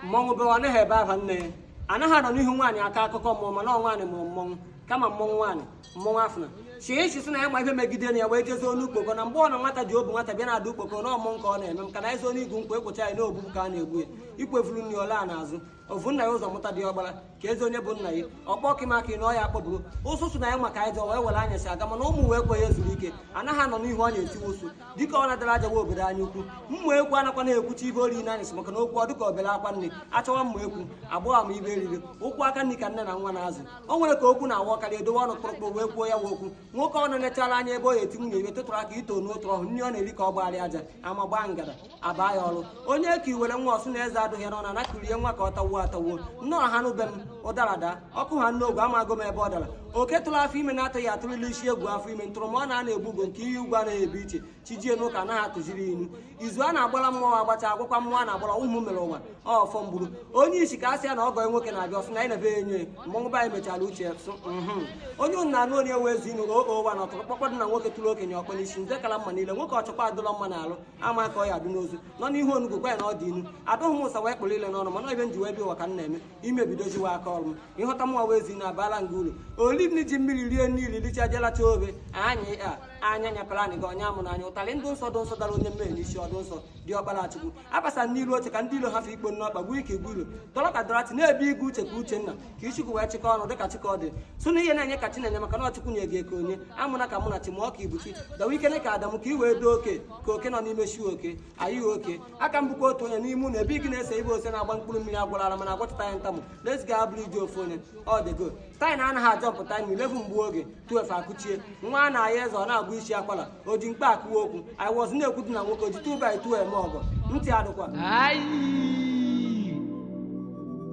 mmọnwụ bewa anaghị ebe aha nne ya anaghị anọ n'ihu nwaanyị aka akụkọ mmụọ mana ọ nwaanyị mụrụ mmọnwụ kama mmọnwụ nwaanyị mmọnwụ afụna chie echi sị na ya ma ihe megide na ya wee jezie onu ukpoko na mgbe ọ nọ nwata ji obu nwata bịa na-ada ukpoko na ọmụ nke ọ na-eme m ka na ezi onu igwu nkwa ekwocha ya na obu ka a na-egbu ya ikwevuru nri ọla a n'azụ ovu nna ya ụzọ mụta dị ọgbara ka ezi onye bụ nna ya ọkpọ kịmaka ị na ọ ya akpọburu ụsụ sụ na ya ma ka nya jọ wee were anyasị aga mana ụmụ ụwa ekwe ya ezuru ike anaghị anọ n'ihu ọ na-etiwe ụsụ dịka ọ na-adara ajawa obodo anyị okwu mmụ ekwu anakwa na-ekwuchi ive o ri n'anyasị maka na okwu ọ dịka obere akwa nne achọwa mma ekwu agbọghọ m ive eriri ụkwụ aka nri ka nne na nwa na-azụ o nwere ka okwu na-awakarị edowe ọnụ kpụrụkpụrụ wee kwuo ya wa okwu nwoke ọ na-enechara anya ebe ọ eti nwunye ive tụtụrụ aka ito n'otu ọhụ nri ọ na-eri ka ọ gbagharị aja ama gbaa ngada aba ya ọrụ onye ka iwere nwa ọ sụ na eze adụghị n'ọnụ na kurie nwa ka ọ tawuo atawuo nnọọ ha n'ube m ụdara daa ọkụ ha n'ogwe amago m ebe ọ dara oke tụrụ afọ ime na-atụghị atụrụla isi egwu afọ ime ntụrụ ma ọ na-ana egbu ugo nke ihe ugwu anaghị ebu iche chi jie n'ụka anaghị atụziri inu izu a na-agbara mmụọ agbacha agwakwa mmụọ a na-agbara ụmụ mere ụwa ọfọ mgburu onye isi ka a sị ya na ọgọ nwoke na-abịa ọ sị na anyị na-ebe enye mmọnwụ be anyị mechara uche sụ mhm. onye ụnụ na-anụ onye nwe ezi inu oo ụwa na ọtụrụkpọkpọ dụ na nwoke tụrụ okenye ọkpọ n'isi nze kala mma niile nwoke ọchọkwa adụlọ mma n'alụ ama ka ọ ya adụ n'ozu nọ n'ihu onugwu gwa ya na ọ dị inu adụghị m ụsa wee kpụrụ ile n'ọnụ mana ive m ji wee bịa ụwa ka m na-eme imebidoziwa aka ọrụ m ịhụta mụnwa wee zi na abala nga uru olili ji mmiri rie niile licha jelata obe anyị a anya nyapara anyị gị ọnya mụ n'anya ụtarị dụ nsọ dụ nsọ dara onye mmehie n'isi ọ dụ nsọ dị ọkpara chukwu abasa n'ilu oche ka ndị ilo hafụ ikpo n'ọkpa gbuo ike igbu ilo dọrọ ka dorothy na-ebe igwe uche ka uchenna ka ichukwu wee chịkọ ọnụ dịka chikọdị sụ na ihe na-enye ka chinenye maka na ọ chukwu nye gị eke onye amụna ka mụ na chima ọ ka ibuchi dawa ike ne ka adamu ka i wee doo oke ka oke nọ n'ime shi oke anyị oke aka m bụkwa otu onye n'ime ụlọ ebe ị gị na-esi ive ose na-agba mkpụrụ mmiri agwụlara mana agwọchịta ya ntamụ na-eziga abụrụ iji ofu onye ọ dịgo time na anaghị ajump time eleven gbuo oge twelve akụchie nwa a na-ayị eze ọ na-agba isi akwala o ji mkpa akụwa okwu i was na-ekwu dị na nwoke o ji two by two eme ọgọ ntị adịkwa Ayi!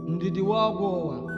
Ndidi wa ọgwụ ụwa.